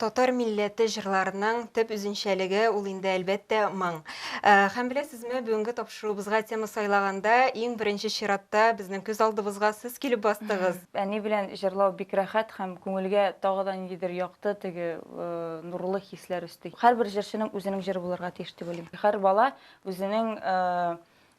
Татар милләте җырларының төп үзенчәлеге ул инде, әлбәттә, моң. Һәм беләсезме, бүгенге тапшыруыбызга тема сайлаганда, иң беренче чиратта безнең күз алдыбызга сез килеп бастыгыз. Әни белән җырлау бик рәхәт һәм күңелгә тагы да ниндидер якты, теге нурлы хисләр өсти. Һәрбер җырчының үзенең җыры булырга тиеш дип уйлыйм. Һәр бала үзенең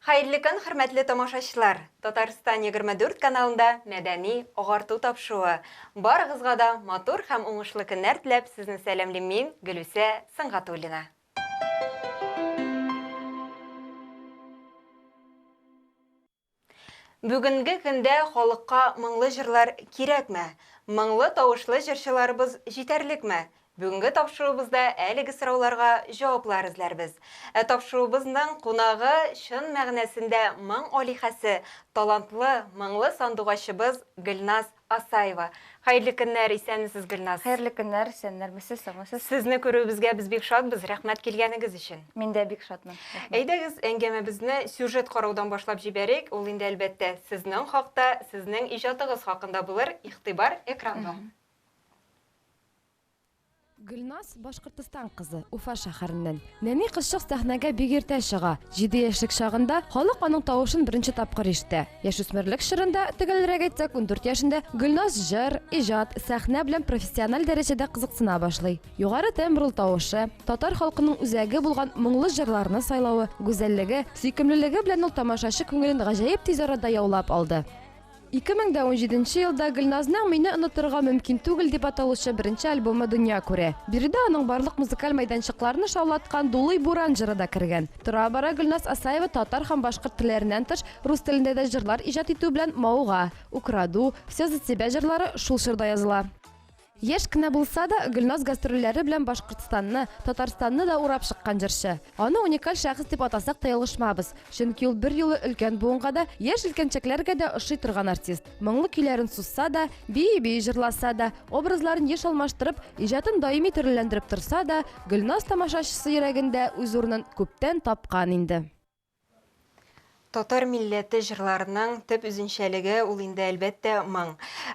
Хәерле көн, хөрмәтле тамашачылар! Татарстан егерме дүрт каналында мәдәни агарту тапшуы. Барыгызга да матур һәм уңышлы көннәр теләп сезне сәламлим мин, Гөлүсә Сөнгатуллина. Бүгенге көндә халыкка моңлы җырлар кирәкме? Моңлы тавышлы җырчыларыбыз җитәрлекме? Бүгенге тапшыруыбызда әлеге сорауларга җаваплар эзләрбез. Ә тапшыруыбызның кунагы, чын мәгънәсендә моң алиһәсе, талантлы, моңлы сандугачыбыз Гөлназ Асаева. Хәерле көннәр, исәнмесез, Гөлназ! Хәерле көннәр, исәннәрмесез, саумысыз? Сезне күрүебезгә без бик шатбыз, рәхмәт килгәнегез өчен! Мин дә бик шатмын, рәхмәт! Әйдәгез, әңгәмәбезне сюжет караудан башлап җибәрик, ул инде, әлбәттә, сезнең хакта, сезнең иҗатыгыз хакында булыр, игътибар экранга! Гөлназ, Башкортостан кызы, Уфа шәһәреннән. Нәни кызчык сәхнәгә бик иртә чыга. Җиде яшьлек чагында халык аның тавышын беренче тапкыр ишетә. Яшүсмерлек чорында, төгәлрәк әйтсәк, ундүрт яшендә, Гөлназ җыр, иҗат, сәхнә белән профессиональ дәрәҗәдә кызыксына башлый. Югары тембрлы тавышы, татар халкының үзәге булган моңлы җырларны сайлавы, гүзәллеге, сөйкемлелеге белән ул тамашачы күңелен гаҗәеп тиз арада яулап алды. Ике мең дә унҗиденче елда Гөлназның Мине онытырга мөмкин түгел дип аталучы беренче альбомы дөнья күрә. Биредә аның барлык музыкаль майданчыкларны шаулаткан Дулый буран җыры да кергән. Тора-бара Гөлназ Асаева татар һәм башкорт телләреннән тыш, рус телендә дә җырлар иҗат итү белән мауга. Украду, Всё за тебя җырлары шул чорда языла. Яшь кенә булса да, Гөлназ гастрольләре белән Башкортстанны, Татарстанны да урап чыккан җырчы. Аны уникаль шәхес дип атасак та ялгышмабыз, чөнки ул берьюлы өлкән буынга да, яшь җилкәнчәкләргә дә ошый торган артист. Моңлы көйләрен сузса да, бии-бии җырласа да, образларын еш алмаштырып, иҗатын даими төрлеләндереп торса да, Гөлназ тамашачысы йөрәгендә үз урынын күптән тапкан инде. Татар милләте җырларының төп үзенчәлеге ул инде әлбәттә моң.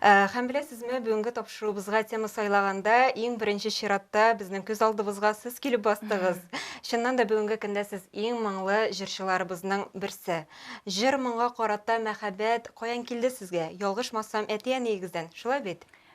Э, Һәм беләсезме, бүгенге тапшыруыбызга тема сайлаганда иң беренче чиратта безнең күз алдыбызга сез килеп бастыгыз. Чыннан да бүгенге көндә сез иң моңлы җырчыларыбызның берсе. Җыр моңга карата мәхәббәт каян килде сезгә? Ялгышмасам, әти-әниегездән, шулай бит?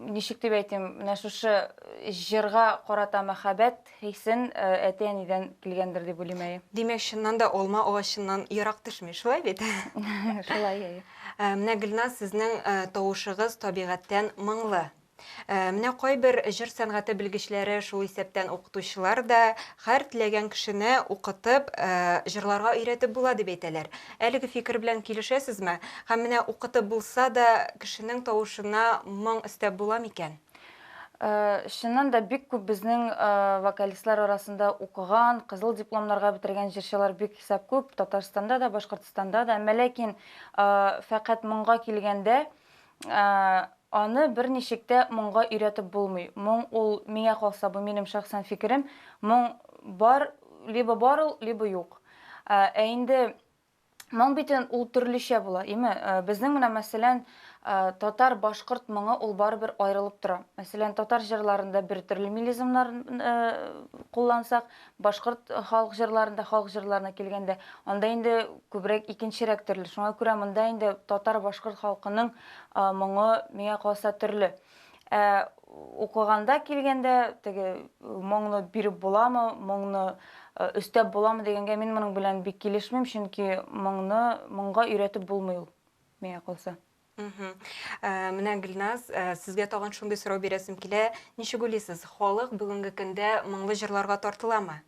ничек дип әйтим, менә шушы э, җырга карата мәхәббәт хисен э, әти-әнидән килгәндер дип уйлыйм әйе. Димәк, чыннан да алма агачыннан ерак төшми, шулай бит? Шулай әйе. Э, менә Гөлназ сезнең тавышыгыз табигатьтән моңлы. Менә кайбер җыр сәнгате белгечләре, шул исәптән укытучылар да Һәр теләгән кешене укытып, җырларга өйрәтеп була дип әйтәләр. Әлеге фикер белән килешәсезме? Һәм менә укытып булса да, кешенең тавышына моң өстәп була микән? Чыннан да, бик күп безнең вокалистлар арасында укыган, кызыл дипломнарга бетергән җырчылар бик хисап күп, Татарстанда да, Башкортстанда да. Әмма ләкин фәкать моңга килгәндә, Ә, аны берничек тә моңга өйрәтеп булмый. Моң ул, миңа калса, бу минем шәхсән фикерем, моң бар, либо бар ул, либо юк. Ә, ә инде моң бит ул төрлечә була, име? Ә, безнең менә, мәсәлән, ә, татар, башкорт моңы ул барыбер аерылып тора. Мәсәлән, татар җырларында бер төрле мелизмнар, ә, куллансак, Башкорт халык җырларында, халык җырларына килгәндә, анда инде күбрәк икенчерәк төрле. Шуңа күрә монда инде татар-башкорт халкының моңы, миңа калса, төрле. Ә укыганда килгәндә, теге моңны биреп буламы, моңны өстәп буламы дигәнгә мин моның белән бик килешмим, чөнки моңны, моңга өйрәтеп булмый ул, миңа калса. Мгм. Ә, менә Гөлназ, ә, сезгә тагын шундый сорау бирәсем килә. Ничек уйлыйсыз, халык бүгенге көндә моңлы җырларга тартыламы?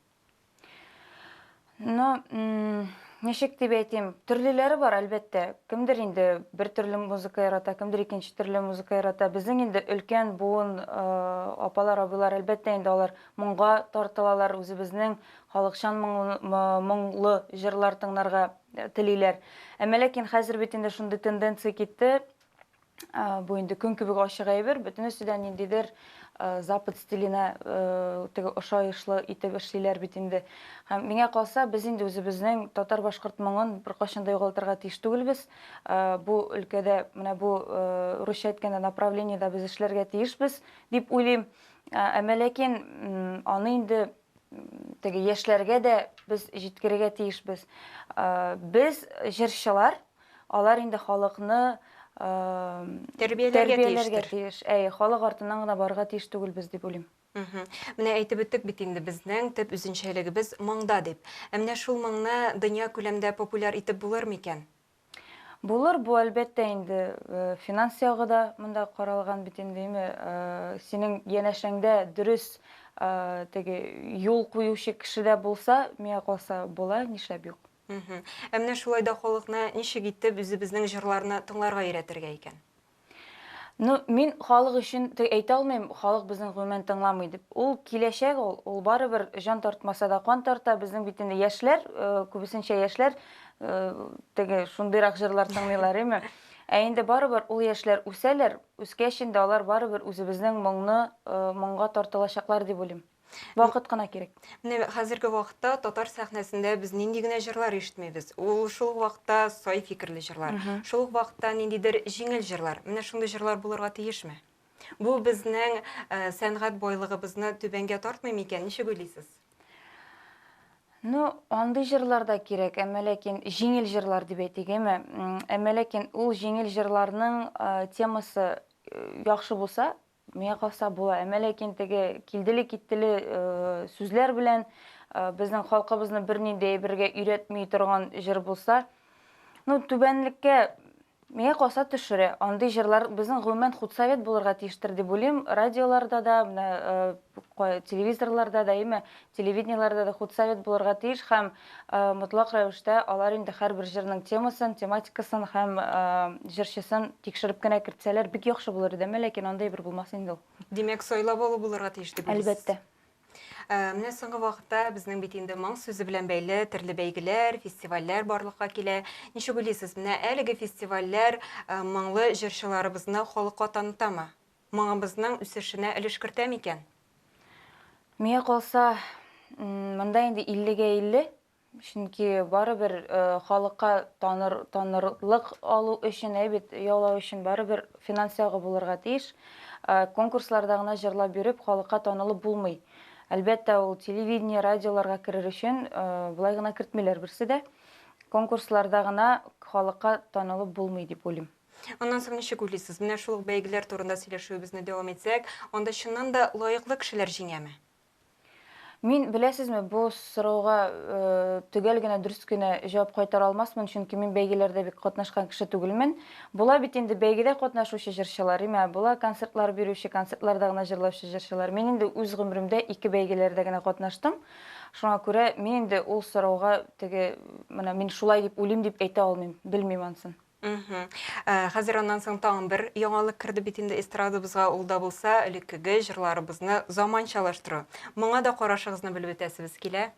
Ну, м, ничек дип әйтим, төрлеләре бар, әлбәттә. Кемдер инде бер төрле музыка ярата, кемдер икенче төрле музыка ярата. Безнең инде өлкән буын э, апалар, абыйлар, әлбәттә инде алар моңга тартылалар, үзебезнең халыкчан моңлы, мо- моңлы җырлар тыңларга телиләр. Әмма ләкин хәзер бит инде шундый тенденция китте, бу инде көн кебек ачык әйбер, бөтен өстедә ниндидер запад стиленә теге ошаешлы итеп эшлиләр бит инде. Һәм миңа калса, без инде үзебезнең татар-башкорт моңын беркайчан да югалтырга тиеш түгелбез. Бу өлкәдә, менә бу русча әйткәндә направлениедә без эшләргә тиешбез дип уйлыйм. Әмма ләкин аны инде теге яшьләргә дә без җиткерергә тиешбез. Э, без җырчылар, алар инде халыкны э, тәрбияләргә тиеш. Әй, халык артыннан гына барырга тиеш түгелбез дип уйлыйм. Менә әйтеп үттек бит инде безнең төп үзенчәлегебез маңда дип. Ә менә шул маңны дөнья күләмдә популяр итеп булыр микән? Булыр бу әлбәттә инде, финанс ягы да монда каралган бит инде, име, синең янәшәңдә дөрес теге юл куючы кеше дә булса, миңа калса була, нишләп юк. Ә менә шулай да халыкны ничек итеп үзебезнең җырларны тыңларга өйрәтергә икән? Ну, мин халык өчен әйтә алмыйм, халык безне гомумән тыңламый дип. Ул киләчәк ул, ул барыбер җан тартмаса да кан тарта. Безнең бит инде яшьләр, э, күбесенчә яшьләр э, теге шундыйрак җырлар тыңлыйлар, әйме? Ә инде барыбер ул яшьләр үсәләр, үскәч инде алар барыбер үзебезнең моңны э, моңга тартылачаклар дип уйлыйм. Вакыт кына кирәк. Менә хәзерге вакытта татар сәхнәсендә без нинди генә җырлар ишетмибез. Ул шул ук вакытта сай фикерле җырлар, шул ук вакытта ниндидер җиңел җырлар. Менә шундый җырлар булырга тиешме? Бу безнең э, сәнгать байлыгыбызны түбәнгә тартмый микән? Ничек уйлыйсыз? Ну, андый җырлар да кирәк, әмма ләкин җиңел җырлар дип әйтик, әйме? Әмма ләкин ул җиңел җырларның э, темасы э, яхшы булса, Миңа калса була, әмма ләкин теге килделе-киттеле сүзләр белән безнең халкыбызны бернинди әйбергә өйрәтми торган җыр булса, ну түбәнлеккә Миңа калса төшерә. Андый җырлар безнең гомумән худсовет булырга тиештер дип уйлыйм. Радиоларда да, менә телевизорларда да, әйме, Телевидениеләрдә дә худсовет булырга тиеш һәм мотлак рәвештә алар инде һәрбер җырның темасын, тематикасын һәм җырчысын тикшереп кенә кертсәләр, бик яхшы булыр иде, әмма ләкин андый бер булмас инде ул. Димәк, сайлап алу булырга тиеш дип уйлыйсыз? Әлбәттә. Менә соңгы вакытта безнең бит инде моң сүзе белән бәйле төрле бәйгеләр, фестивальләр барлыкка килә. Ничек уйлыйсыз, менә әлеге фестивальләр моңлы җырчыларыбызны халыкка танытамы? моңыбызның үсешенә өлеш кертә микән? Миңа калса, монда инде иллегә илле, чөнки барыбер халыкка таныр, танырлык алу өчен, әйбит яулау өчен барыбер финанс ягы булырга тиеш. Конкурсларда гына җырлап йөреп, халыкка танылып булмый. Әлбәттә, ул телевидение, радиоларга керер өчен болай гына кертмиләр берсе дә. Конкурсларда гына халыкка танылып булмый дип уйлыйм. Аннан соң ничек уйлыйсыз, менә шул ук бәйгеләр турында сөйләшүебезне дәвам итсәк, анда чыннан да лаеклы кешеләр җиңәме? Мин, беләсезме, бу сорауга төгәл генә, дөрес кенә җавап кайтара алмасмын, чөнки мин бәйгеләрдә бик катнашкан кеше түгелмен. Була бит инде бәйгедә катнашучы җырчылар, имә, була концертлар бирүче, концертларда гына җырлаучы җырчылар. Мин инде үз гомеремдә ике бәйгеләрдә генә катнаштым. Шуңа күрә мин инде ул сорауга теге, менә мин шулай дип уйлыйм дип әйтә алмыйм, белмим ансын. Мгм. Ә, хәзер аннан соң тагын бер яңалык керде бит инде эстрадабызга, ул да булса элеккеге җырларыбызны заманчалаштыру. Моңа да карашыгызны белеп үтәсебез килә.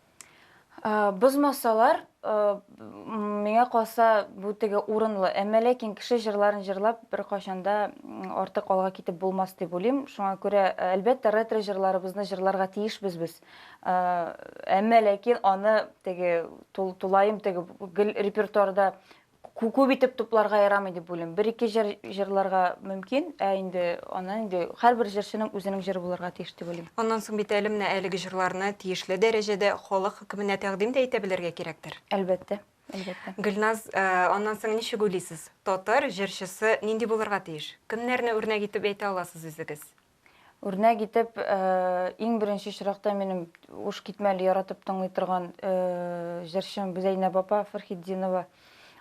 Ә, бозмасалар, ә, м, миңа калса, бу теге урынлы. Әмма ләкин кеше җырларын җырлап беркайчан да м, артык алга китеп булмас дип уйлыйм. Шуңа күрә, ә, әлбәттә, ретро җырларыбызны җырларга тиешбез без. Ә, әмма ләкин аны теге тул, тулаем теге гел репертуарда күп итеп тупларга ярамый дип уйлыйм. Бер-ике җыр җырларга мөмкин, ә инде аннан инде һәрбер җырчының үзенең җыры булырга тиеш дип уйлыйм. Аннан соң бит әле менә әлеге җырларны тиешле дәрәҗәдә халык хөкеменә тәкъдим дә итә белергә кирәктер. Әлбәттә, әлбәттә. Гөлназ, аннан соң ничек уйлыйсыз, татар җырчысы нинди булырга тиеш? Кемнәрне үрнәк итеп әйтә аласыз үзегез? Үрнәк итеп, иң беренче очракта минем уш китмәле яратып тыңлый торган җырчым Зәйнәб апа Фәрхетдинова.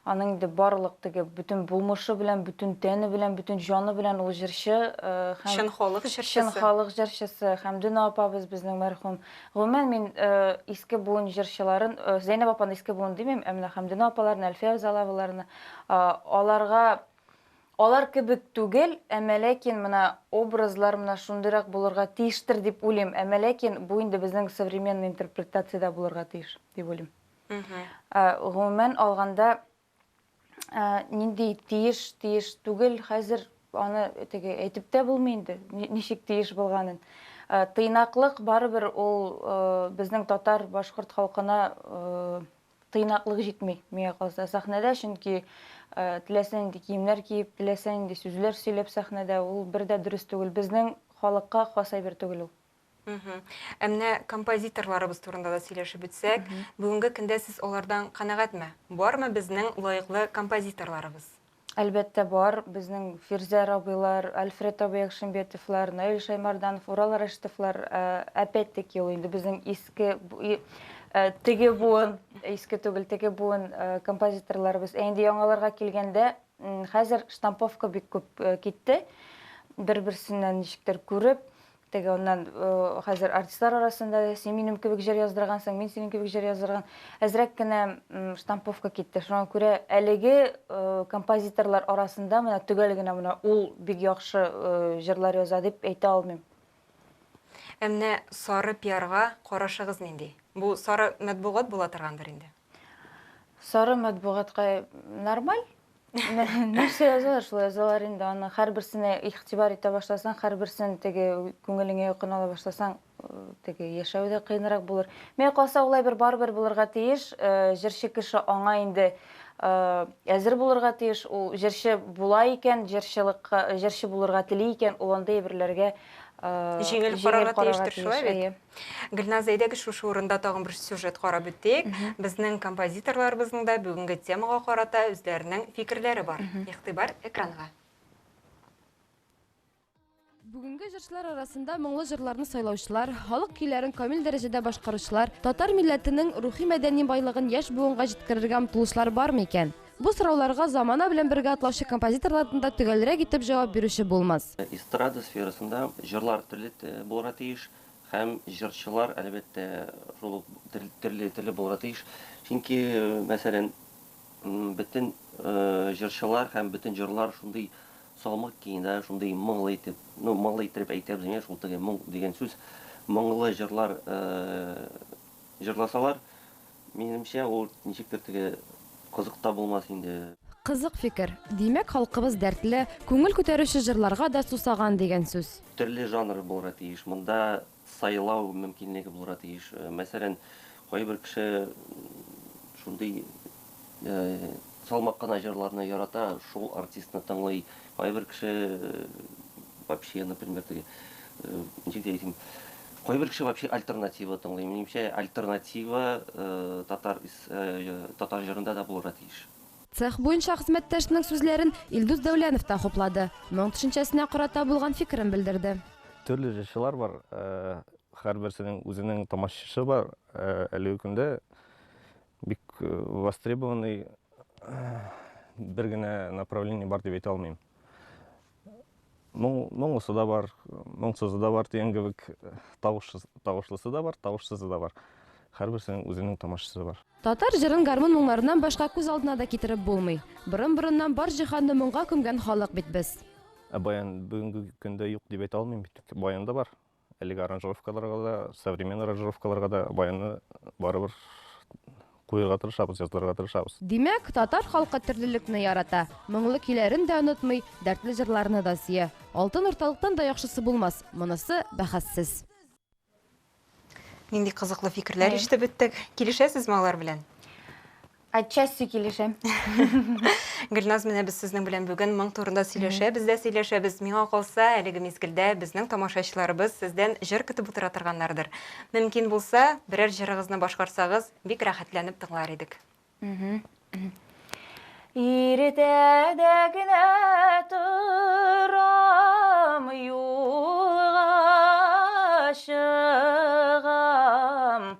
Аның инде барлык теге бөтен булмышы белән, бөтен тәне белән, бөтен җаны белән ул җырчы һәм чын халык җырчысы. Чын халык җырчысы һәм Дүна апабыз безнең мәрхүм. Гомумән мин иске буын җырчыларын, Зәйнәб апаны иске буын димим, ә менә Хәмдүна апаларны, Әлфия Авзаловаларны, аларга Алар кебек түгел, әмма ләкин менә образлар менә шундыйрак булырга тиештер дип уйлыйм, әмма ләкин бу инде безнең современный интерпретациядә булырга тиеш дип уйлыйм. Гомумән алганда, нинди тиеш, тиеш түгел, хәзер аны теге әйтеп тә булмый инде, ничек тиеш булганын. Тыйнаклык барыбер ул безнең татар, башкорт халкына Тыйнаклык җитми, миңа калса, сәхнәдә, чөнки теләсә нинди киемнәр киеп, теләсә нинди сүзләр сөйләп сәхнәдә, ул бер дә дөрес түгел. Безнең халыкка хас әйбер түгел ул. Ә менә композиторларыбыз турында да сөйләшеп үтсәк, бүгенге көндә сез алардан канәгатьме? Бармы безнең лаеклы композиторларыбыз? Әлбәттә, бар. Безнең Фирзә Рабыйлар, Альфред абый Әхшимбетовлар, Наил Шаймарданов, Урал Рәшитовлар, ә, опять-таки, ул инде безнең иске, бу- и- ә, теге буын, иске түгел, теге буын ә, композиторларыбыз. Ә инде яңаларга килгәндә, м, хәзер штамповка бик күп ә, китте. Бер-берсеннән ничектер күреп, Теге аннан хәзер артистлар арасында син минем кебек җыр яздыргансың, мин синең кебек җыр яздырган. Әзрәк кенә штамповка китте. Шуңа күрә әлеге композиторлар арасында менә төгәл генә менә ул бик яхшы җырлар яза дип әйтә алмыйм. Ә менә сары пиарга карашыгыз нинди? Бу сары матбугат була торгандыр инде? Сары матбугатка нормаль. нәрсә язалар шулай язалар инде аны һәрберсенә игътибар итә башласаң һәрберсен теге күңелеңә якын ала башласаң э, теге яшәү дә кыенрак булыр миңа калса улай бер барыбер булырга тиеш э, җырчы кеше аңа инде э, әзер булырга тиеш ул җырчы була икән җырчылыкка җырчы булырга тели икән ул андый әйберләргә э, Җиңел карарга тиештер, шулай бит? Әйе. Гөлназ, әйдәгез шушы урында тагын бер сюжет карап үтик. Безнең композиторларыбызның да бүгенге темага карата үзләренең фикерләре бар. Игътибар экранга. Бүгенге җырчылар арасында моңлы җырларны сайлаучылар, халык көйләрен камил дәрәҗәдә башкаручылар, татар милләтенең рухи-мәдәни байлыгын яшь буынга җиткерергә омтылучылар бармы икән? Бу сорауларга замана белән бергә атлаучы композиторлардан да төгәлрәк итеп җавап бирүче булмас. Эстрада сферасында җырлар төрле булырга тиеш һәм җырчылар, әлбәттә, шул ук төрле-төрле булырга тиеш. Чөнки, мәсәлән, бөтен җырчылар һәм бөтен җырлар шундый салмык киң дә, шундый моңлы итеп, ну, моңлы иттереп әйтәбез мени, шул теге моң дигән сүз, моңлы җырлар җырласалар, Минемчә, ул ничектер теге кызык та булмас инде. Кызык фикер. Димәк, халкыбыз дәртле, күңел күтәрүче җырларга да сусаган дигән сүз. Төрле жанры булырга тиеш. Монда сайлау мөмкинлеге булырга тиеш. Мәсәлән, кайбер кеше шундый Салмак кына җырларны ярата, шул артистны тыңлый. Кайбер кеше вообще, например, теге, ничек тә әйтим, кайбер кеше вообще альтернатива тыңлый. Минемчә, альтернатива татар татар җырында да булырга тиеш. Цех буенча хезмәттәшенең сүзләрен Илдус Дәүләнов та хуплады, моң төшенчәсенә карата булган фикерен белдерде. Төрле җырчылар бар, һәрберсенең үзенең тамашачысы бар. Әлеге көндә Бик востребованный бер генә направление бар дип әйтә алмыйм. Моңлысы да бар, моңсызы да бар дигән кебек, тавышлысы да бар, тавышсызы да бар. Һәрберсенең үзенең тамашачысы бар. Татар җырын гармун моңнарыннан башка күз алдына да китереп булмый. Борын-борыннан бар җиһанны моңга күмгән халык бит без. Ә баян бүгенге көндә юк дип әйтә алмыйм бит. Баян да бар. Әлеге аранжировкаларга да, современный аранжировкаларга да баянны барыбер куерга тырышабыз, язылырга тырышабыз. Димәк, татар халкы төрлелекне ярата, моңлы көйләрен дә онытмый, дәртле җырларны да сөя. Алтын урталыктан да яхшысы булмас, монысы бәхәссез. Нинди кызыклы фикерләр ишетеп беттек. Килешәсезме алар белән? Отчасти килешәм. Гөлназ, менә без сезнең белән бүген моң турында сөйләшәбез дә сөйләшәбез. Миңа калса, әлеге мизгелдә безнең тамашачыларыбыз сездән җыр көтеп утыра торганнардыр. Мөмкин булса, берәр җырыгызны башкарсагыз, бик рәхәтләнеп тыңлар идек. Иртәдә генә торам, юлга чыгам.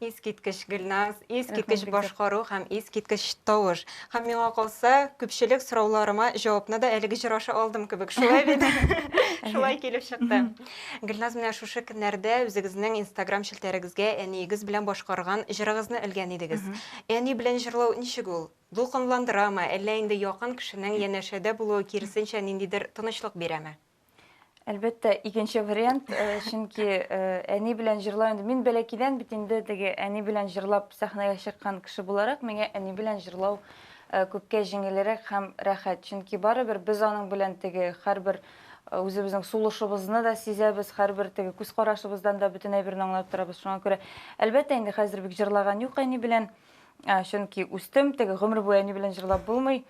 Искиткеч Гөлназ, искиткеч башкару һәм искиткеч тавыш. Һәм миңа калса, күпчелек сорауларыма җавапны да әлеге җыр аша алдым кебек. Шулай бит? Шулай килеп чыкты. Гөлназ, менә шушы көннәрдә үзегезнең Instagram челтәрегезгә әниегез белән башкарган җырыгызны элгән идегез. Әни белән җырлау ничек ул? Дулкынландырамы, әллә инде якын кешенең янәшәдә булуы киресенчә ниндидер тынычлык бирәме? Әлбәттә, икенче вариант, э, чөнки э, әни белән җырлау инде мин бәләкидән бит инде теге әни белән җырлап сәхнәгә чыккан кеше буларак, миңа әни белән җырлау э, күпкә җиңелрәк һәм рәхәт. Чөнки барыбер без аның белән теге һәрбер э, үзебезнең сулышыбызны да сизәбез, һәрбер теге күз карашыбыздан да бөтен әйберне аңлап торабыз. Шуңа күрә, әлбәттә, инде хәзер бик җырлаган юк әни белән. Ә, Чөнки үстем, теге гомер буе әни белән җырлап булмый.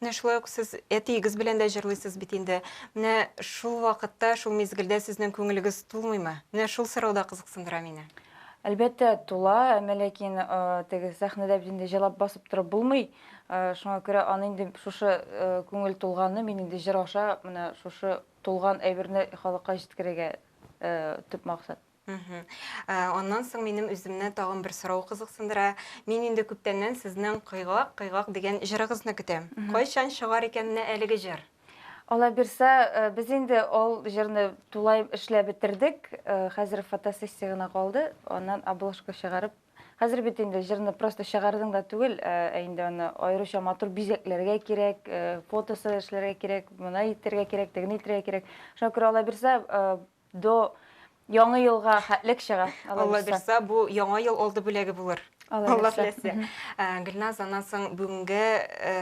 Менә шулай ук сез әтиегез белән дә җырлыйсыз бит инде. Менә шул вакытта, шул мизгелдә сезнең күңелегез тулмыймы? Менә шул сорау да кызыксындыра мине. Әлбәттә, тула, әмма ләкин теге сәхнәдә бит инде җырлап басып торып булмый. Шуңа күрә аны инде шушы күңел тулганны мин инде җыр аша менә шушы тулган әйберне халыкка җиткерергә төп максат. Мгм. Ә, аннан соң минем үземне тагын бер сорау кызыксындыра. Мин инде күптәннән сезнең Кыйгак, кыйгак дигән җырыгызны көтәм. Мгм. Кайчан чыгар икән менә әлеге җыр? Алла бирса, э, без инде ол җырны тулай эшләп бетердек. Э, Хәзер фотосессия гына калды, аннан обложка чыгарып. Хәзер бит инде җырны просто чыгардың да түгел, э, ә инде аны аеруча матур бизәкләргә кирәк, э, фотосы эшләргә кирәк, моны итәргә кирәк, тегене итәргә кирәк. Шуңа күрә Алла бирса, э, До яңы елга хәтлек чыга. Алла бирса, бу яңа ел алды бүләге булыр. Алла теләсә. Э, Гөлназ, аннан соң бүгенге э,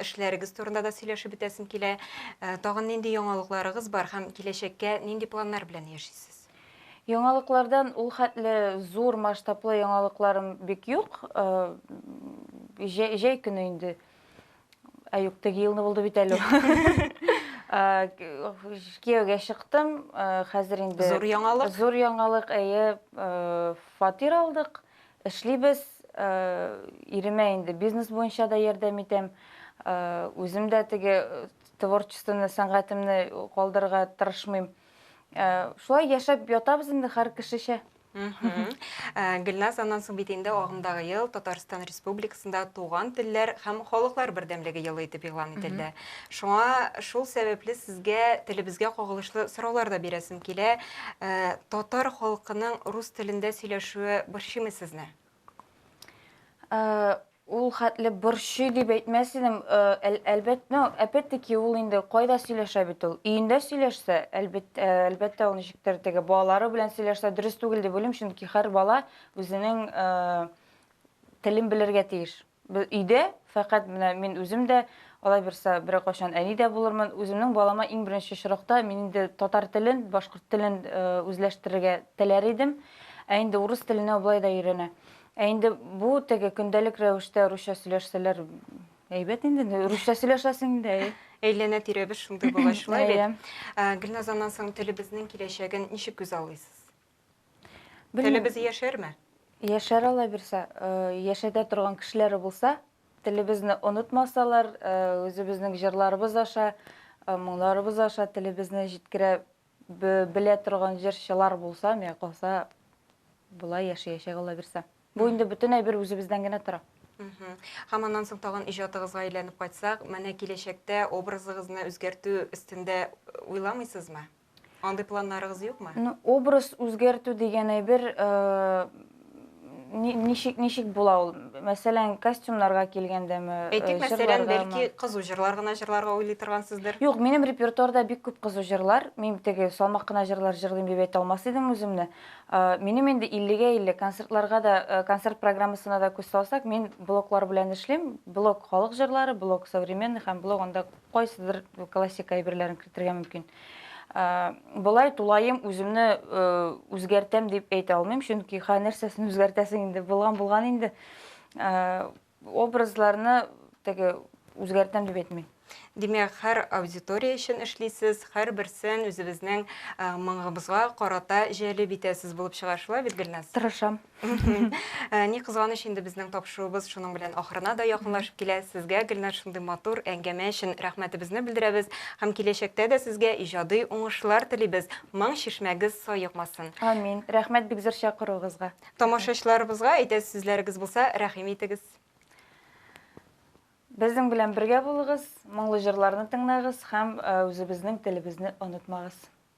эшләрегез турында да сөйләшеп бетәсем килә. Э, тагын нинди яңалыкларыгыз бар һәм киләчәккә нинди планнар белән яшисез? Яңалыклардан ул хәтле зур масштаблы яңалыкларым бик юк. Э, җәй, җәй көне инде Әюк теге елны булды бит әле. Кияүгә чыктым, хәзер инде... Зур яңалык? Зур яңалык, әйе, фатир алдык, эшлибез, иремә инде бизнес буенча да ярдәм итәм, үзем дә теге творчествоны, сәнгатемне калдырырга тырышмыйм. Шулай яшәп ятабыз инде һәр кешечә. Гөлназ, аннан соң бит инде агымдагы ел Татарстан Республикасында Туган телләр һәм халыклар бердәмлеге елы итеп игълан ителде. Шуңа шул сәбәпле сезгә телебезгә кагылышлы сораулар да бирәсем килә. Татар халкының рус телендә сөйләшүе борчыймы сезне? Э, ул хәтле борчый дип әйтмәс идем. Э, әл- Әлбәттә, ну, опять-таки ул инде кайда сөйләшә бит ул? Өендә сөйләшсә, әлбәт- э, әлбәттә, ул ничектер теге балалары белән сөйләшсә дөрес түгел дип уйлыйм, чөнки һәр бала үзенең э, телен белергә тиеш. Өйдә фәкать менә мин үзем дә, алай берса берәр кайчан әни дә булырмын. Үземнең балама иң беренче очракта мин инде татар телен, башкорт телен үзләштерергә теләр идем. Ә инде урыс теленә ул болай да өйрәнә. Ә инде бу теге көндәлек рәвештә русча сөйләшсәләр әйбәт инде. Русча сөйләшәсең дә. Әйләнә-тирәбез шундый булгач шулай бит. Гөлназ, аннан соң телебезнең киләчәген ничек күзаллыйсыз? Телебез яшәрме? Яшәр ала бирсә, яшәтә торган кешеләре булса, телебезне онытмасалар, үзебезнең җырларыбыз аша, моңларыбыз аша телебезне җиткерә белә торган җырчылар булса, миңа калса, болай яшәячәк ала бирсә. Бу инде бөтен әйбер үзебездән генә тора. Һәм аннан соң тагын иҗатыгызга әйләнеп кайтсак, менә киләчәктә образыгызны үзгәртү өстендә уйламыйсызмы? Андый планнарыгыз юкмы? Ну, образ үзгәртү дигән әйбер ничек ничек була ул? Мәсәлән, костюмнарга килгәндәме? Әйтик, мәсәлән, бәлки кызу җырлар гына җырларга уйлый торгансыздыр? Юк, минем репертуарда бик күп кызу җырлар. Мин теге салмак кына җырлар җырлыйм дип әйтә алмас идем үземне. Минем инде 50-гә 50, концертларга да, концерт программасына да күз салсак, мин блоклар белән эшлим. Блок халык җырлары, блок современный һәм блок анда кайсыдыр классика әйберләрен кертергә мөмкин. Болай тулаем үземне үзгәртәм дип әйтә алмыйм, чөнки ха нәрсәсен үзгәртәсең инде, булган булган инде. Образларны теге үзгәртәм дип әйтмим. Димәк, һәр аудитория өчен эшлисез, һәр берсен үзебезнең моңыбызга карата җәлеп итәсез булып чыга шулай бит, Гөлназ? Тырышам. Ни кызганыч инде безнең тапшыруыбыз шуның белән ахырына да якынлашып килә. Сезгә, Гөлнар, шундый матур әңгәмә өчен рәхмәтебезне белдерәбез һәм киләчәктә дә сезгә иҗади уңышлар телибез. Моң чишмәгез саекмасын. Амин. Рәхмәт бик зур чакыруыгызга. Тамашачыларыбызга әйтәсе сүзләрегез булса, рәхим итегез. Безнең белән бергә булыгыз, моңлы җырларны тыңлагыз һәм үзебезнең телебезне онытмагыз.